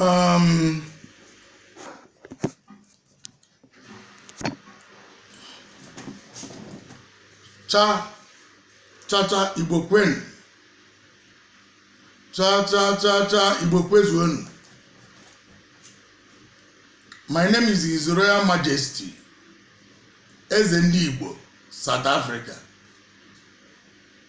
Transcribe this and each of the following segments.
Um, cha cha cha igbo kwenu cha cha cha cha igbo kwezuonu my name is his royal majesty eze ndị igbo south africa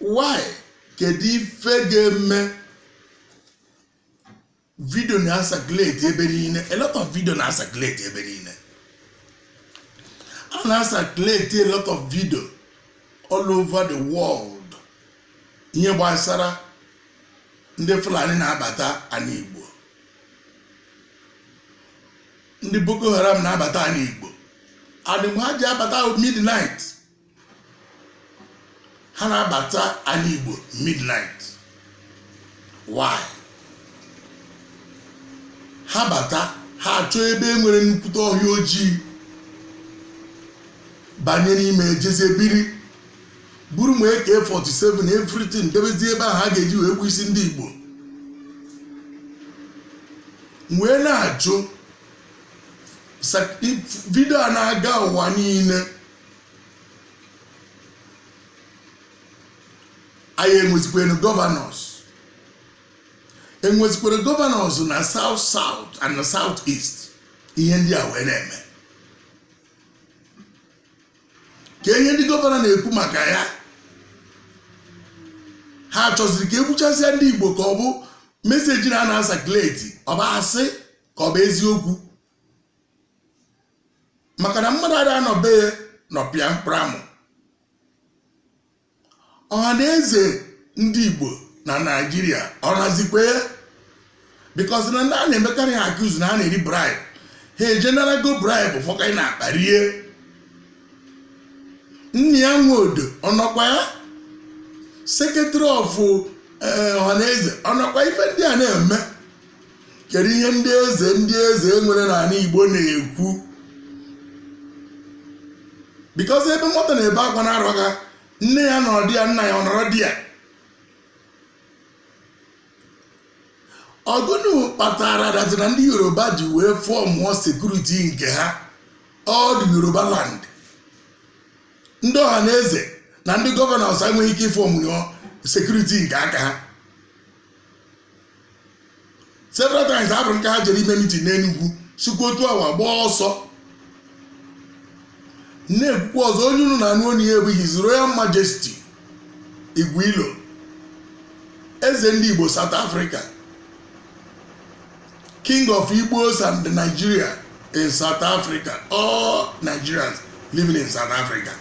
why kedu ife ga-eme video na-asakuleti ebe niile a lot of video na-asakuleti ebe niile a na-asakuleti a lot of video all over the world ihe gbasara ndị fulani na-abata anị igbo ndị boko haram na-abata anị igbo and ha ji abata midnight ha na-abata anị igbo midnight why ha bata ha achọọ ebe e nwere nnukwute ọhịa ojii banye n'ime ejezie biri buru ma AK 47 everything debezie ebe ahụ ha ga-eji wee gbu isi ndị igbo wee na-ajụ sị video a na-aga ụwa niile anyị enwezikwenu governors enwezikwere governors na south south and na south east ihe ndị a wee na-eme kee ihe ndị governor na-ekwu maka ya ha chọziri ka e gbuchasịa ndị igbo ka ọ bụ message na na-asakuleti ọ bụ asị ka ọ bụ eziokwu maka na mmadụ ada anọ be ya nọpịa mkpụrụ amụ Ọhanaeze ndị Igbo na Nigeria ọ nọzikwa ya because na ndị a na-emekarị ha accuse na ha na-eri bribe ha eje nara ego bribe fọkanye n'akpa rie Nnia Nwodo ọ nọkwa ya secretary of Ọhanaeze ọ nọkwa ife ndị a na-eme kedu ihe ndị eze ndị eze e nwere n'anị Igbo na-ekwu because ebe nwata na-ebe akwa na-arụ aka nne ya nọrọ di ya nna ya ọ nọrọ di ya ọ gụnụ kpatara that is na ndị yoruba ji wee fọmụọ security nke ha all the yoruba land ndị Ọhanaeze na ndị governors enweghị ike ịfọmụọ security nke aka ha several times afụrụ nke ha jere ime meeting n'enugwu sikwa otu a wee gbaa ọsọ na-ekwukwa ọzọ onye unu na-anụ olu ya bụ His Royal Majesty Igwilo eze ndị Igbo South Africa king of igbos and nigeria in south africa all nigerians living in south africa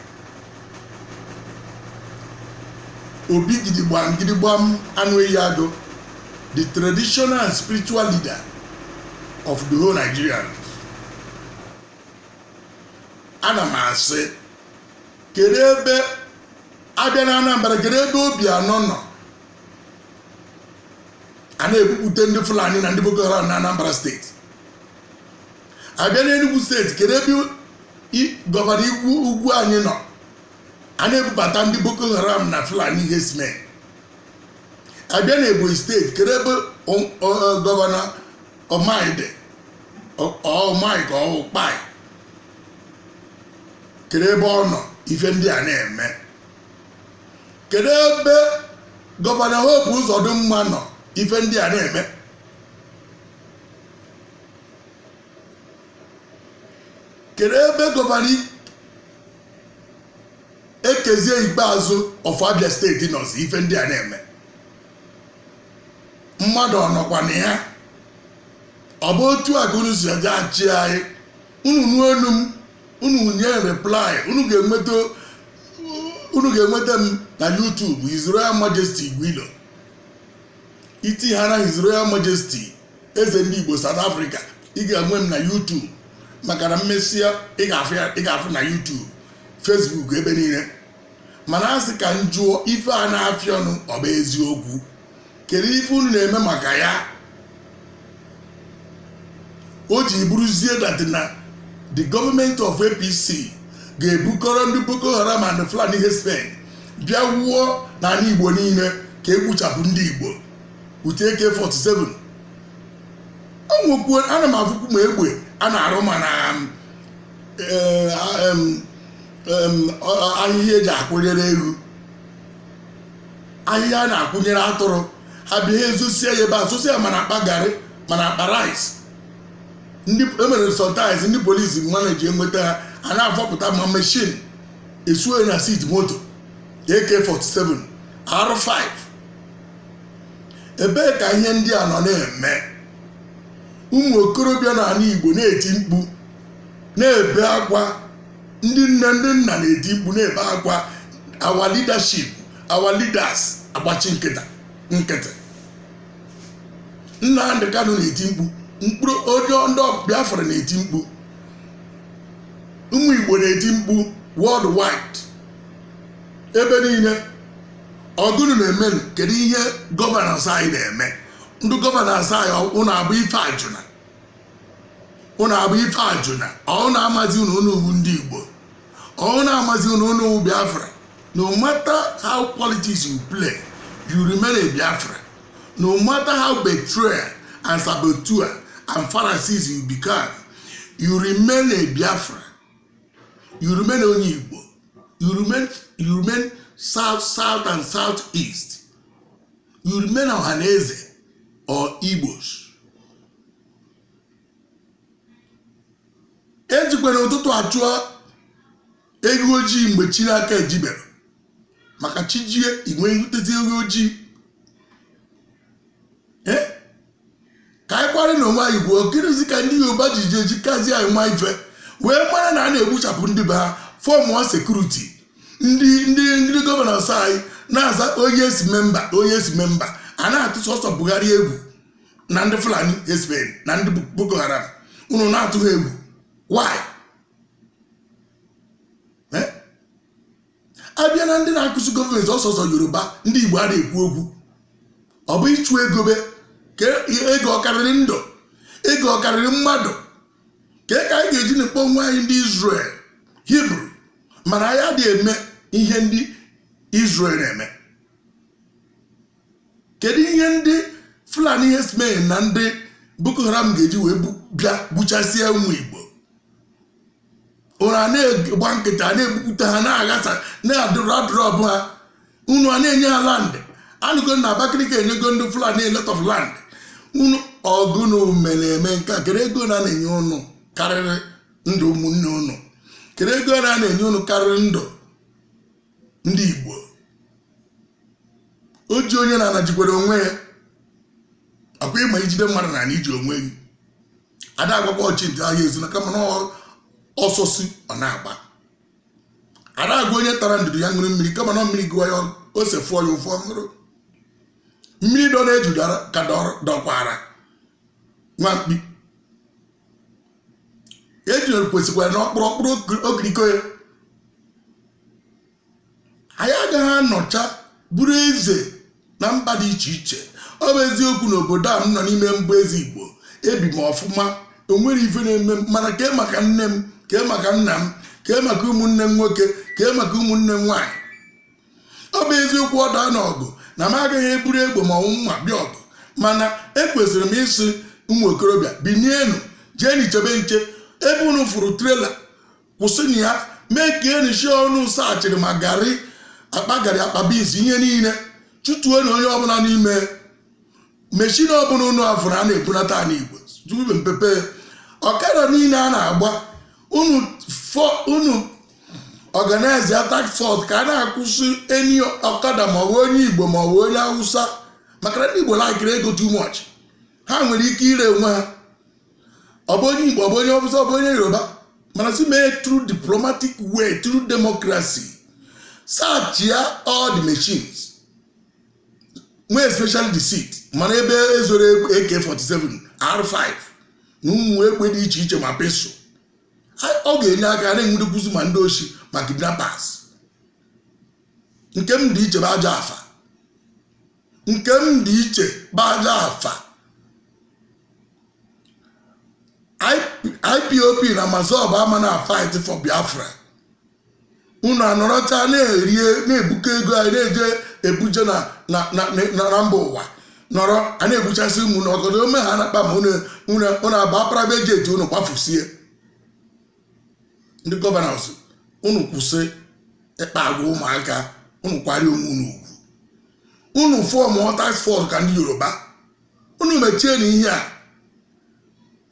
obi gidigbam gidigbam anụ ehi agụ the traditional and spiritual leader of the whole nigerians ana m asị kedu ebe a bịa na anambra kedu ebe obiano nọ a na-ebupụta ndị fulani na ndị boko haram na anambra steeti a bịa n'enugwu steeti kedu ebe i- gọvanọ Ugwuanyi nọ a na-ebubata ndị boko haram na fulani herdsmen a bịa na ebonyi steeti kedu ebe o- o- o- gọvanọ Umahi Dave Umahi ka ọ kpai kedu ebe ọ nọ ife ndị a na-eme kedu ebe gọvanọ Hope Uzodimma nọ ife ndị a na-eme kedu ebe gọvanọ Okezie Ikpeazu of Abia steeti nọzi ife ndị a na-eme mmadụ ọ nọkwa na ya ọ bụ otu a ka unu si aja achị anyị unu nụ olu m unu nye reply unu ga-enweta m na YouTube His Royal Majesty Igwilo iti ha na His Royal Majesty eze ndị Igbo South Africa ị ga-enwe m na YouTube maka na m mesịa ị ga-afụ na YouTube Facebook ebe niile mana a sị ka m jụọ ife a na-afịa ọnụ ọ bụ eziokwu kedu ife unu na-eme maka ya o ji bụrụzie that na the government of apc ga-ebukọrọ ndị boko haram and fulani herdsmen bịa wụọ n'ala igbo niile ka e gbuchapụ ndị igbo with AK47 o nwekwuo ana m afụkwu ma egbe a na-arụ ma na eh, em, em, ahịhịa eji akwụnyere ewu ahịhịa a na-akwụnyere atụrụ ha bịa ha ezosie ya ebe a zosie ya ma n'akpa garị ma n'akpa rice ndị emere sometimes ndị polisi manage enweta ha a na-afọpụta ma machine esuo ya na seat moto AK47 R5 ebee ka ihe ndị a nọ na-eme ụmụ okorobịa n'ala Igbo na-eti mkpu na-ebe akwa ndị nne ndị nna na-eti mkpu na-ebe akwa our leadership our leaders agbachi nkịtị Nnamdi Kanu na-eti mkpu mkpụrụ ole ndị Biafra na-eti mkpu ụmụ Igbo na-eti mkpu world wide ebe niile ọ gụnụ na-eme kedu ihe governors anyị na-eme ndị governors anyị ụnụ abụ Ifeajuna ụnụ abụ Ifeajuna ọ ụnụ amazi ụnụ ụnụ wụ ndị Igbo ọ na-amazi unu unu wụ biafra no matter how politics you play you remain a biafra no matter how betrayer and saboteur and pharisees you become you remain a biafra you remain onye igbo you remain you remain south south and south east you remain ohaneze or igbos ejikwa na ụtụtụ achụ eghu ojii mgbe chi n'aka ejibere maka chi jie inwe nhụtezi eghu ojii Eh? ka anyị kwarị na onwe anyị gwuo gịnịzi ka ndị yoruba ji ji eji kazi anyị ma ife wee mara na a na-egbuchapụ ndị be ha fọmụọ security ndị ndị ndị governors anyị na-aza o yes member o yes member a na-atụ sọsọ Buhari egwu na ndị fulani herdsmen na ndị boko haram unu na-atụ ha egwu why Eh? a bịa na ndị na-accuse government ọ sọsọ yoruba ndị igbo ada ekwu okwu ọ bụ ịchụ ego biko ego ọ karịrị ndụ ego ọ karịrị mmadụ kee ka anyị ga-eji na-akpọ onwe anyị ndị Israel Hebrew mana anyị adịghị eme ihe ndị Israel na-eme kedu ihe ndị fulani herdsmen na ndị boko haram ga-eji wee bu- bịa gbuchasịa ụmụ igbo unu a na-agba nkịtị na-egbupụta ha na-aghasa na-adụrụ adụrụ ọbụ ha unu a na-enye ha land anụgo na abakaliki enyego ndị fulani a lot of land unu ọ gụnụ na-eme nke a kedu ego a na-enye unu karịrị ndụ ụmụnne unu kedu ego a na-enye unu karịrị ndụ ndị igbo o ji onye n'ana jikwara onwe ya ọkwa ị ma i jide mmadụ n'ana i ji onwe gị ada agwakwa ọchị ntị ahịa esu na kama na ọ- ọsọ su ọ na-agba ada agwa onye tara ndụdụ ya ṅụrụ mmiri kama na mmiri gụwa ya ọ- ose fụọ ya ụfụ ọ ṅụrụ mmiri dọ n'eju dara- ka dọrọ- dọkwara nwa mkpi ejune kwesịkwara na ọ kpụrụ ọ kpụrụ okiriko ya anyị agaghị anọcha bụrụ eze na mba dị iche iche ọ bụ eziokwu na obodo a m nọ n'ime m bụ eze igbo ebi m ọfụma o nwerọ ife na-eme m mana kee maka nne m kee maka nna m kee maka ụmụnne m nwoke kee maka ụmụnne m nwaanyị ọ bụ eziokwu ọ daa n'ọgụ na m agaghị eburu egbe ma ọ wụ mma bịa ọgụ mana ekwesịrị m ịsị ụmụ okorobịa binienu jeenụ chebe nche ebe unu fụrụ trailer kwụsịnụ ya makeenụ sure unu searchịrị ma garị akpa garị akpa beans ihe niile chụtuonụ onye ọbụla n'ime meshin ọbụla unu afụrụ a na-ebunata ala igbo dube mpepe ọkada niile a na-agba unu fọ unu organize a task force ka a na-akwụsị any ọkada ma ọ bụ onye igbo ma ọ bụ onye awụsa maka na ndị igbo laịkịrị ego too much ha nwere ike ire onwe ha ọ bụ onye igbo ọ bụ onye awụsa ọ bụ onye yoruba mana si mee through diplomatic way through democracy search ya all the machines more especially the seat mara ebe e zoro AK47 R5 na ụmụ egbe dị iche iche ma pistol ọ ga-enye aka na-enwudekwuzi ma ndị oshi ma kidnappers nke m dị iche bụ ajọ afa nke m dị iche bụ ajọ afa IPOP na MASSOB ama na fight for Biafra unu anọrọcha na-erie na-ebukọ ego anyị na-eje ebuje na na- na- na- na mba ụwa nọrọ a na-egbuchasị ụmụ na ọgọdọ ome ha na-akpa ma unu unu unu agba private jet unu kwafusie ndị gọvanọs unu kwụsị ịkpa agwa ụmụaka unu kwari onwe unu ugwu unu form task force ka ndị yoruba unu mechie na ihe a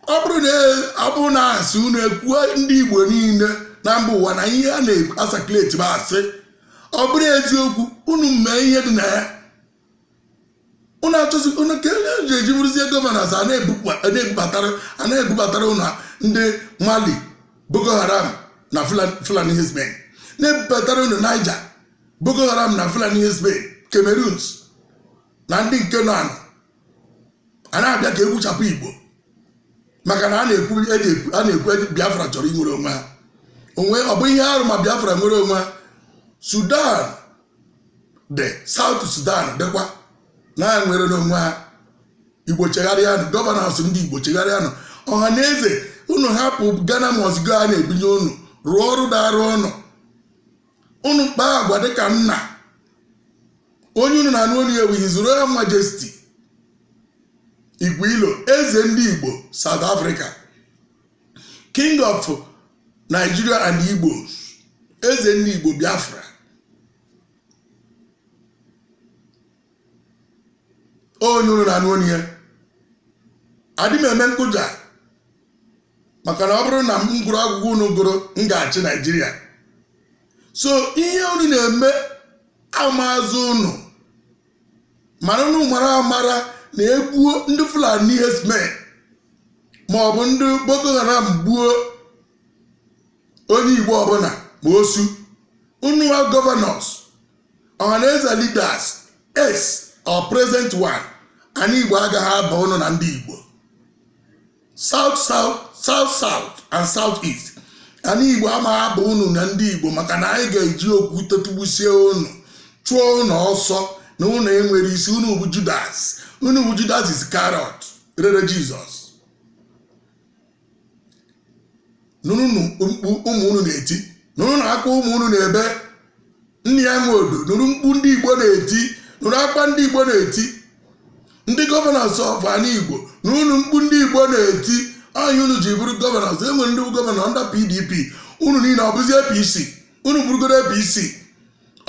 ọ bụrụ na ọ bụrụ na asị unu ekwuo ndị igbo niile na mba ụwa na ihe a na-asakuleti bụ asị ọ bụrụ eziokwu unu mee ihe dị na ya unu achọzi unu ka onye ji eji bụrụzie gọvanọs a na-ebubatara a na-ebubatara unu ndị mali boko haram na fulani herdsmen na-ebubatara unu niger boko haram na fulani herdsmen cameroons na ndị nke nọ anọ a na-abịa ka e gbuchapụ igbo maka na a na-ekwu e na-ekwu a na-ekwu e- biafra chọrọ inwere onwe ha ọ ọ bụ ihe arụ ma biafra nwere onwe ha sudan dị south sudan dịkwa na ha nwere n'onwe ha igbo chegharịanụ gọvanọs ndị igbo chegharịanụ ọha na eze unu hapụ ghana must go a na-ebunye unu rụọ ọrụ daara unu unu kpaa agwa dịka nna onye unu na-anụ olu ya wụ his royal majesty igwe ilo eze ndị igbo south africa king of nigeria and igbos eze ndị igbo biafra onye unu na-anụ olu ya adị m eme nkụja maka na ọ bụrụ na m gụrụ akwụkwọ unu gụrụ m ga-achị naijiria so ihe unu na-eme amazụ unu mana unu mara amara na e gbuo ndị fulani herdsmen ma ọ bụ ndị boko haram gbuo onye igbo ọbụla ma osu unu wa gọvanọs ọhaneze leaders ex or present one anyị igbo agaghị aba ụnụ na ndị igbo south south and south east anyị igbo amaghị aba ụnụ na ndị igbo maka na anyị ga-eji okwu tetugbusie ụnụ chụọ ụnụ ọsọ na ụnụ enwere isi ụnụ bụ judas ụnụ bụ judas iscariot rere jizọs nụrụnụ mkpu ụmụ unu na-eti nụrụnụ akwa ụmụ unu na-ebe nnia nwodo nụrụ mkpu ndị igbo na-eti nụrụ akwa ndị igbo na-eti ndị gọvanọs of ana igbo nụrụnụ mkpu ndị igbo na-eti anyị unu ji bụrụ gọvanọs enwere ndị bụ gọvanọ ndị pdp unu niile ọ bụzi apc unu bụrụgodo apc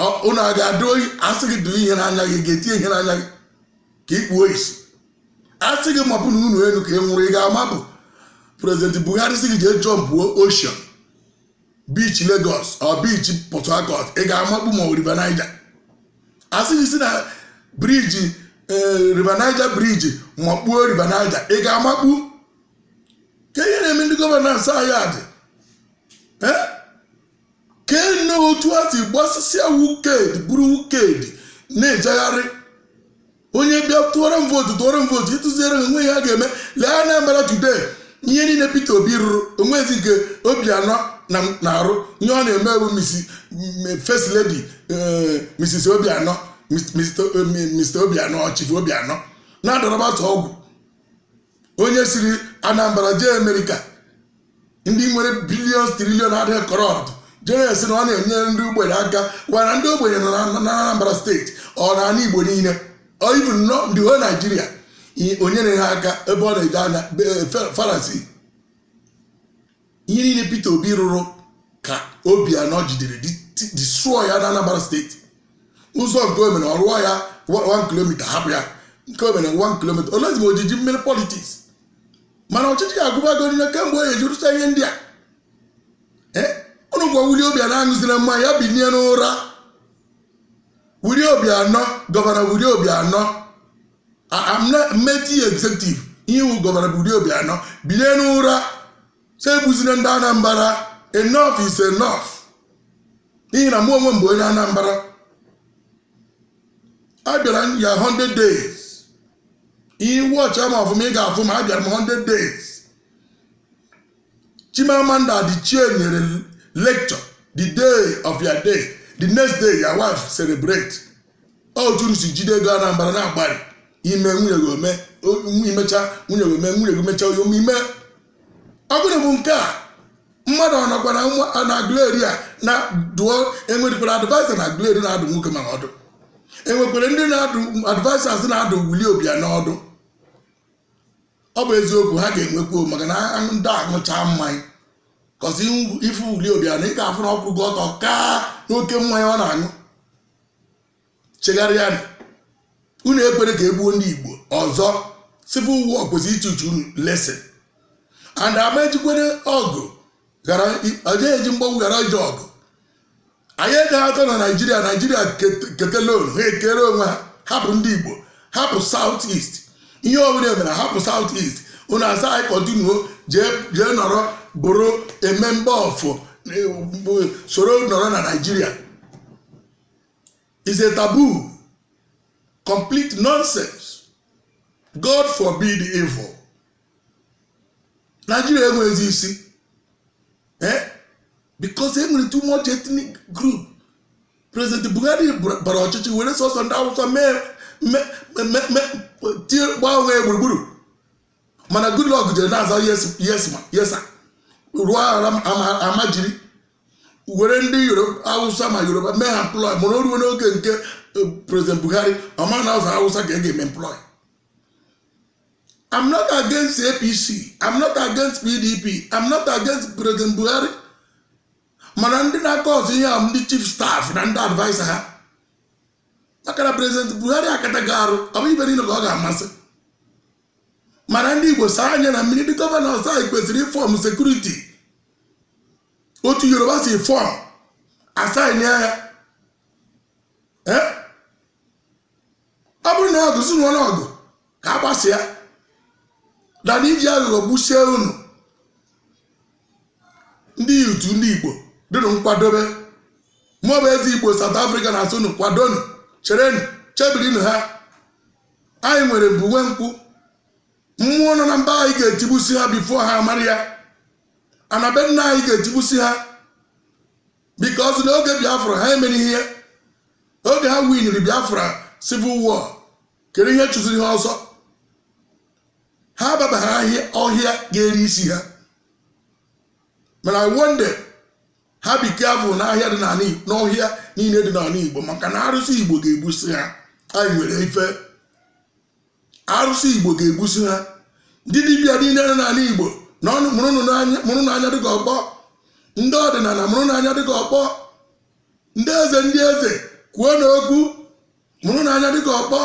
ọ- unu a ga-adụ oyi a sị gị dụ ihe n'anya gị ị ga-eti ihe n'anya gị ka ị kpuo isi a sị gị mapụ na ụnọ enu ka ị nwụrụ ị ga-amapụ president buhari sị gị jee jọmpuo ocean beach lagos or beach port harcourt ị ga-amakpu ma river niger a sị gị si na briji ee, river niger briji makpuo river niger ị ga-amakpu kee ihe na-eme ndị gọvanọ anyị a dị Eh? kene otu a si gbasịsịa wicked bụrụ wicked na-ejegharị onye bịa tụọrọ m vootu tụọrọ m vootu ị tụsịara ha o nwe ihe ha ga-eme lee Anambra today ihe niile Peter Obi rụrụ o nwezi nke Obianọ na-arụ ihe ọ na-eme bụ first lady Mrs. Obianọ Mr. Obianọ Chief Obianọ na-adọrọbata ọgwụ onye siri anambra jee amerịka ndị nwere billions trillion adịghị corrupt jee asị na ọ na-enyere ndị ogbenye aka why not ndị ogbenye nọ na na anambra steeti or na ana igbo niile or even nọ in the whole nigeria i- onye na-enye ha aka ebe ọ na-eje anya be- Fa- pharisee ihe niile Peter Obi rụrụ ka Obianọ jidere destroy ya na Anambra steeti ụzọ nke o mere ọ rụọ ya 1 kilomita hapụ ya nke o mere 1 kilomita olezi ma ojiji mmiri politics mana ọchịchị ya agụbago niile kemgbe o eji rụcha ihe ndị a ụnụ gwa Willie Obianọ aṅụzila mmanya binie n'ụra Willie Obianọ gọvanọ Willie Obianọ mmeti executive iwu gọvanọ Willie Obianọ binie n'ụra si egbuzina ndị Anambra enough is enough n'ihi na mụ onwe m bụ onye Anambra abịara m ya 100 days ị watchịa m ọfụma ị ga-afụ m abịara m 100 days chimamanda adichie nyere lecture the day of your day the next day your wife celebrate otu si jide ego anambra na-agbari ime nwunye gị ome imecha nwunye gị ome nwunye gị mecha onye ome ime ọ gịnị bụ nke a mmadụ ọ nọkwa n'aguleri a na dụọ enwerekwara adviser n'aguleri na-adụ nwoke m a ọdụ enwekwara ndị na-adụ advisers na-adụ willie obiano ọdụ ọ bụ eziokwu ha ga-enwekwa maka na ndị aṅụcha mmanya cause ị fụ willie obiano ị ga-afụ na ọ kwụgo ọtọ kaa n'oke mmanya ọ na-aṅụ chegharịanụ unu ekwere ka egbuo ndị igbo ọzọ civil war kwesịrị ịtichi unu lesson and ama ejikwere ọgụ ghara eji mgbagbu ghara ije ọgụ anyị ga-atọ na naijiria naijiria kete loan ha ekere onwe ha hapụ ndị igbo hapụ south east ihe ọbụla e mere hapụ south east unu asị anyị kọtinuo jee nọrọ bụrụ a member of soro nọrọ na naijiria it's a taboo complete nonsense god forbid evil naijiria enweghịzi isi eh? because e nwere too much ethnic group president buhari bra- bara ọchịchị were sọsọ ndị awụsa mee me- me- me- tie gbaa onwe ya gburugburu mana goodluck jere na-aza yes yes ma yes sir. rụọ ara m- ama- almajiri were ndị yoruba awụsa ma yoruba mee ha employ mana o ruo n'oge nke eh, president buhari ọ ma na sọ awụsa ka e ga-eme employ I'm not against APC I'm not against PDP I'm not against President Buhari mana ndị na-akọs ihe ahụ ndị chief staff na ndị adviser ha maka na President Buhari akatago arụ ọ bụghị ife niile ka ọ ga-amasị mana ndị Igbo saa anya na mmiri ndị governors anyị kwesịrị ịfọm sekuriti otu Yoruba si fọm asaịnị ya ọ bụrụ na ọgụ zuru ọnụ ọgụ ka a gbasịa na na iji aghụghọ gbusie unu ndị youth ndị igbo dịnụ nkwadobe mụ bụ eze igbo South Africa na-asị unu kwadonu cherenu chebirinụ ha anyị nwere mbụ nwe nkwụ mmụọ nọ na mba anyị ga-etigbusi ha before ha amara ya ana be nna anyị ga-etigbusi ha because n'oge biafra ha mere ihe oge ha winiri biafra civil war kedu ihe chụziri ha ọsọ ha baba ọhịa ọhịa ga-eri isi ha mana i warn them ha be careful n'ahịa dị n'ala Igbo- n'ọhịa niile dị n'ala igbo maka na arụsị igbo ga-egbusi ha anyị nwere ife arụsị igbo ga-egbusi ha ndị dibịa niile nọ n'ala igbo na ọnụ mụrụnụ n'anya- mụrụnụ anya dịka ọkpọ ndị ọdịnala mụrụnụ anya dịka ọkpọ ndị eze ndị eze kwuonụ okwu mụrụnụ anya dịka ọkpọ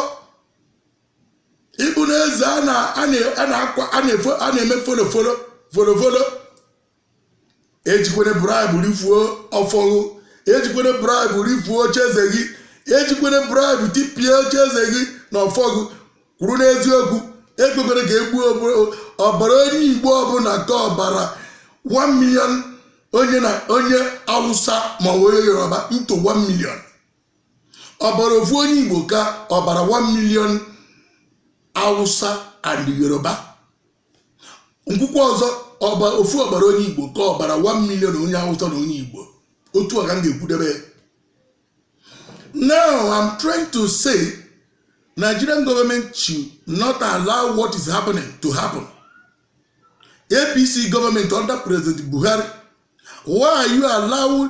ịbụ na eze a na- a na- a na-akwa- a na-efo- a na-eme folofolo folofolo ejikwene bribe rifuo ọfọ gị ejikwene bribe rifuo ocheeze gị ejikwene bribe tipịa ocheeze gị na ọfọ gị kwụrụ n'eziokwu ekwekwere ka e gbuo ọbara onye igbo ọbụla ka ọbara 1 million onye na onye awụsa ma ọ bụ onye yoruba into 1 million ọbara ofu onye igbo ka ọbara 1 million awụsa and yoruba m kwukwe ọzọ ọba ofu ọbara onye igbo ka ọbara 1 million onye awụsa na onye igbo otu a ka m ga-ekwudebe ya. now i'm trying to say nigerian government should not allow what is happening to happen apc government under president buhari why are you allowing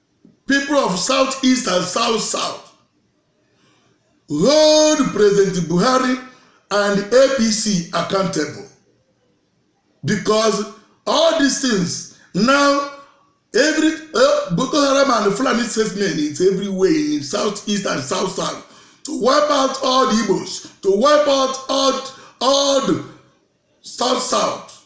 people of south east and south south hold president buhari and apc accountable because all these things now every uh, boko haram and fulani statement is everywhere in south east and south south to wipe out all the igbos to wipe out all all the south south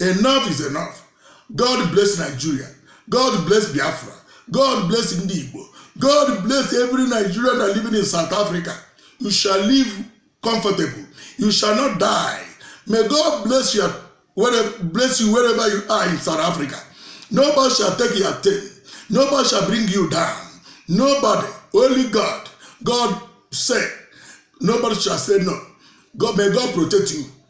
enough is enough god bless nigeria god bless biafra god bless ndị igbo god bless every nigerian that living in south africa you shall live comfortable you shall not die may god bless you wherever, bless you wherever you are in south africa nobody shall take your thing nobody shall bring you down nobody only god god said nobody shall say no god may god protect you